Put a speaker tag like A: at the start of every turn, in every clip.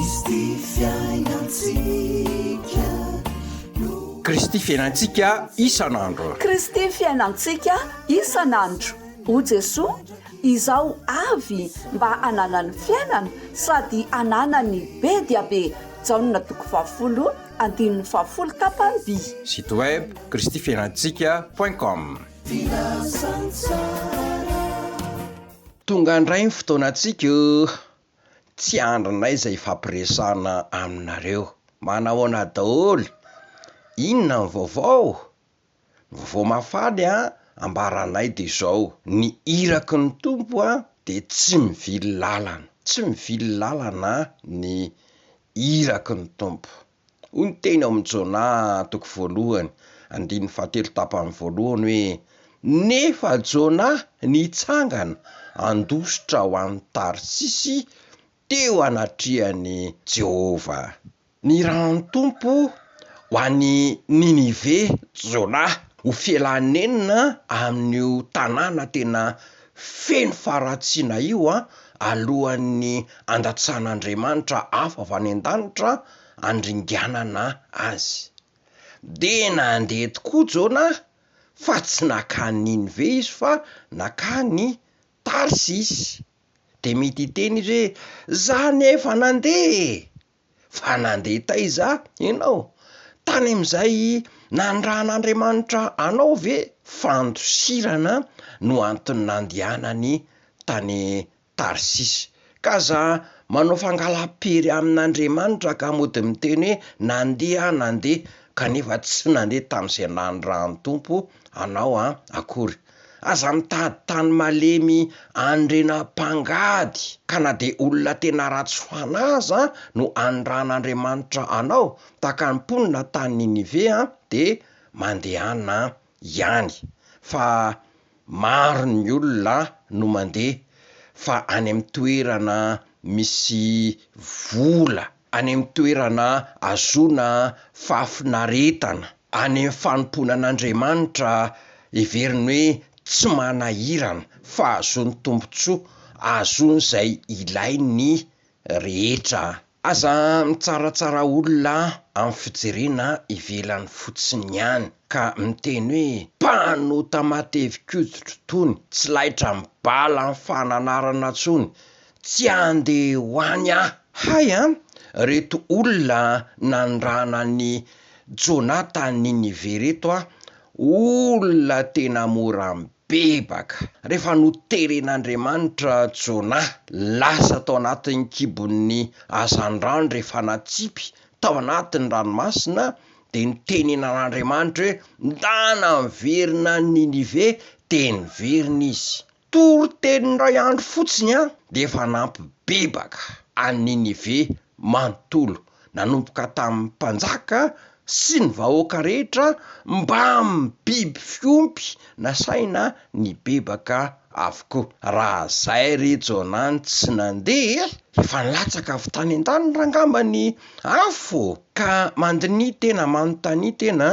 A: Kristy fiainantsika no. Kristy fiainantsika isan'andro. Kristy
B: fiainantsika isan'andro. O Jesoa, izaho avy mba hananany fiainana sady hananany be dia be. Jaona toko fahafolo andininy fahafolo tapany vy. Site web,
A: Kristy fiainantsika point com. Filazantsara. Tonga ndray ny fotoanantsika o! tsy andrinay izay ifampiresahana aminareo. Manahoana daholo? Inona ny vaovao? Ny vaovao mafana ambara anay dia izao, ny iraky ny Tompo dia tsy mivily lalana, tsy mivily lalana ny iraky ny Tompo. Hoy ny teny ao amin'ny Jona toko voalohany, andininy fahatelo tapany voalohany hoe, Nefa Jona nitsangana handositra ho any Tarsisy teo anatrehan'i Jehovah. Nirahan'ny Tompo ho any Ninive Jona ho fialany nenina amin'io tanàna tena Feno faharatsiana io an! Alohan'ny handatsahan'Andriamanitra afo avy any an-danitra handringanana azy. Dia nandeha tokoa Jona fa tsy nankany Ninive izy fa nankany Tarsisy. Dia mety hiteny izy hoe, 'Za anefa nandeha e! Fa nandeha taiza ianao? Tany amin'izay nanirahan'Andriamanitra anao ve? Fandosirana no antony nandehanany tany Tarsisy. K'aza manao fangalam-pery amin'Andriamanitra ka mody miteny hoe nandeha aho nandeha kanefa tsy nandeha tamin'izay nanirahan'ny Tompo anao akory. Aza mitady tany malemy anrena mpangady ka na dia olona tena ratsy fanahy aza no anirahan'Andriamanitra anao tahaka ny mponina tany Ninive an dia mandehana ihany fa maro ny olona no mandeha fa any amin'ny toerana misy vola any amin'ny toerana ahazoana fahafinaretana, any amin'ny fanompoana an'Andriamanitra heveriny hoe tsy manahirana, fa ahazoany tombontsoa, ahazoany izay ilainy ny rehetra. Aza mitsaratsara olona amin'ny fijerena ivelany fotsiny ihany, ka miteny hoe, Mpanota matevi-koditro itony, tsy laitra amin'ny bala ny fananarana intsony, Tsy ande ho any ah. Hay an! reto olona nandrana an'i Jona tany Ninive reto an! olona tena mora mibebaka! rehefa noteren'Andriamanitra Jona lasa tao anatin'ny kibon'ny hazandrano rehefa natsipy tao anatin'ny ranomasina dia nitenenan'Andriamanitra hoe ndana miverina any Ninive dia niverina izy! Toriteny iray andro fotsiny an, dia efa nampibebaka an'i Ninive manontolo, nanomboka tamin'ny mpanjaka sy ny vahoaka rehetra mbamin'ny biby fiompy nasaina nibebaka avokoa. Raha izay ry Jonah no tsy nandeha, efa nilatsaka avy tany an-danitra angamba ny afo, ka mandinihy tena, manontania tena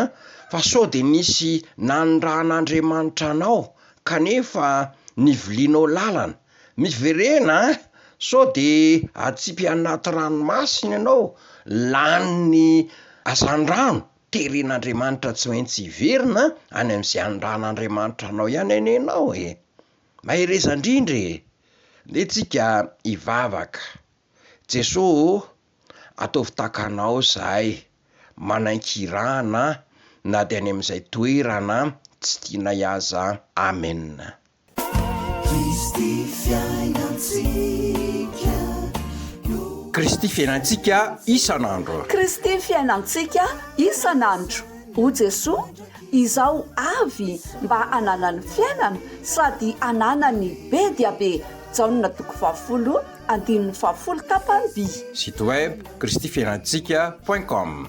A: fa sao dia nisy nanirahan'Andriamanitra anao Kanefa nivilianao lalana. Miverena an! Sao de atsipy anaty ranomasina ianao, lanin'ny hazandrano, teren'Andriamanitra tsy maintsy hiverina any amin'izay anindran'Andriamanitra anao ihany anie ianao e! Mahereza indrindra e! Ndeha tsika hivavaka. Jesoa ô, ataovy tahaka Anao zahay, manankiirana na dia any amin'izay toerana tsy tianay aza. Amen. Kristy fiainantsika io. Kristy fiainantsika isan'andro. Kristy fiainantsika
B: isan'andro. O Jesoa, izaho avy mba hanana ny fiainana sady hanana ny be dia be. Jaona toko fahafolo Andininy fahafolo tapany vii. Site web
A: kristy fiainantsika point com.